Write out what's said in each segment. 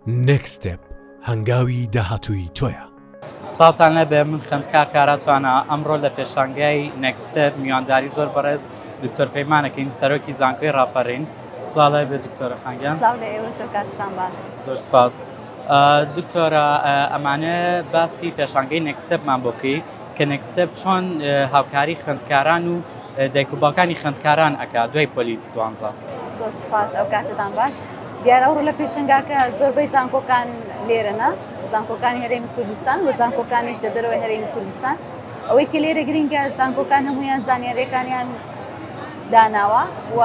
Next step هەنگاوی داهاتووی تۆیە. سڵاوتان لێبێ من خوێندکار کارا توانا ئەمڕۆ لە پێشانگای Next step میوانداری زۆر بەڕێز دکتۆر پەیمان ئەکەین سەرۆکی زانکۆی ڕاپەڕین سڵاو لای بێ دکتۆرە خانگیان سڵاو لە ئێوەش و کاتتان باش. زۆر سپاس دکتۆرە ئەمانە باسی پێشانگەی Next step مان بۆ بکەی کە Next step چۆن هاوکاری خوێندکاران و دایک و باوکانی خوێندکاران ئەکا دوای پۆلی دوانزە. زۆر سپاس ئەو کاتتان باش دیار ئەوڕۆ لە پێشنگاکە زۆربەی زانکۆکان لێرەنا زانکۆکانی هەرێمی کوردستان و زانکۆکانیش لە دەرەوەی هەرێمی کوردستان ئەوەی کە لێرە گرنگە زانکۆکان هەمویان زانیارەکانیان داناوە و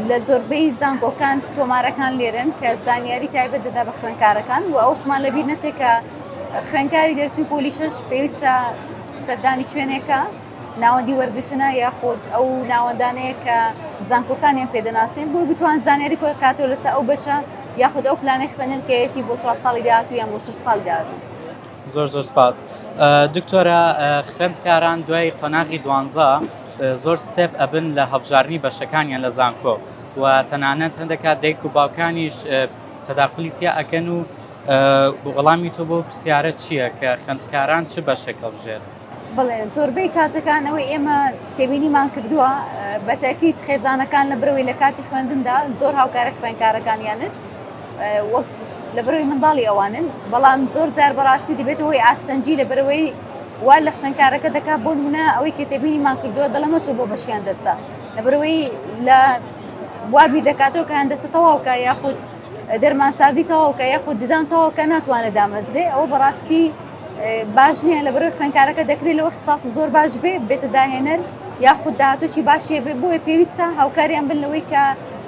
لە زۆربەی زانکۆکان تۆمارەکان لێرن کە زانیاری تایبەت دەدا بە خوێنکارەکان و ئەوشمان لەبییر نەچێکە خوێنکاری دەرچوو پۆلیشش پێویستە سەردانی شوێنێکە ناوەندی وەرگتنە یاخود ئەو ناوەندانەیە کە زانکۆکانیان پێدەناسین بۆی بتوان زانیاری کۆی کاتۆ لەسەر ئەو بەشە یاخود ئەو پلانە خوێنن کەەتی بۆ چوار ساڵی داات و یان بۆ شش ساڵ داات. زۆر زۆر سپاس دکتۆرە خوێندکاران دوای قۆناغی دوانزە زۆر ستێپ ئەبن لە هەبژارنی بەشەکانیان لە زانکۆ و تەنانەت هەندێکات دایک و باوکانیش تەداخلی تیا ئەکەن و وەڵامی تۆ بۆ پرسیارە چییە کە خوێندکاران چ بەشێک هەڵبژێرن؟ بەڵێ زۆربەی کاتەکانەوەی ئێمە تێبینیمان کردووە بەتەکیت خێزانەکان لە برەوەی لە کاتی خوێندندا زۆر هاوکارە خوێنکارەکانیانن وەک لە برەوەی منداڵی ئەوانن بەڵام زۆر جار بەڕاستی دەبێتەوەی ئاستەنجی لە برەوەی وا لە خوێنکارەکە دەکات بۆ منە ئەوەی کە تێبینیمان کردووە دەڵەمە چۆ بۆ بەشیان دەرسە لە برەوەی لە وابی دەکاتەوە کە هەندەسە تەواوکە یاخود دەرمانسازی تەواوکە یاخود ددان تەواوکە ناتوانێت دامەزرێ ئەوە بەڕاستی باش نییە لە بەرەوەی خوێنکارەکە دەکرێت لەوە اختصاصی زۆر باش بێ بێتە داهێنەر یاخود داهاتوچی باشیە بێ بۆیە پێویستە هاوکاریان بن لەوەی کە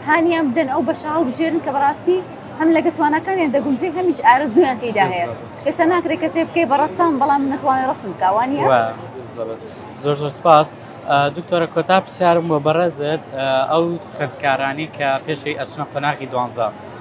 هانیان بدەن ئەو بەشە هەڵبژێرن کە بەڕاستی هەم لەگە توانەکانیان دەگونجێ هەمیش ئارەزویان تێدا هەیە کەسە ناکرێت کەسێ بکەی بە ڕەسام بەڵام نەتوانێت ڕسم کاوانی زۆر زۆر سپاس دکتۆرە کۆتا پرسیارم بۆ بەڕێزت ئەو خوێندکارانی کە پێشەی ئەچنە قۆناغی دوانزە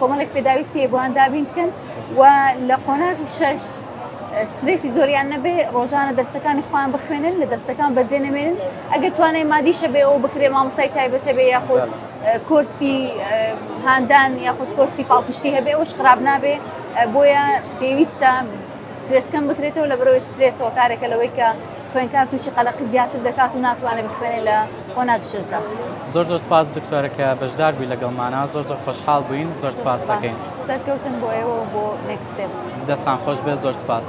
کۆمەڵێک پێداویستی هەیە بۆیان دابین بکەن و لە قۆناغی شەش سرێسی زۆریان نەبێ ڕۆژانە دەرسەکانی خۆیان بخوێنن لە دەرسەکان بەجێ نەمێنن ئەگەر توانای مادیشە بێ ئەو بکرێ مامۆسای تایبەتە بێ یاخود کۆرسی هاندان یاخود کۆرسی پاڵپشتی هەبێ ئەوش خراپ نابێ بۆیە پێویستە سرێسکەم بکرێتەوە لە بەرەوەی سرێسەوە کارێکە لەوەی کە خوێنکار تووشی قەلەقی زیاتر دەکات و ناتوانێت بخوێنێ لە قۆنا دژردا. زۆر زۆر سپاس دکتۆرە کە بەشدار بووی لەگەڵمانە زۆر زۆر خۆشحاڵ بووین زۆر سپاس دەکەین سەرکەوتن بۆ ئێوە بۆ نێکستێپ دەستان خۆش بێ زۆر سپاس.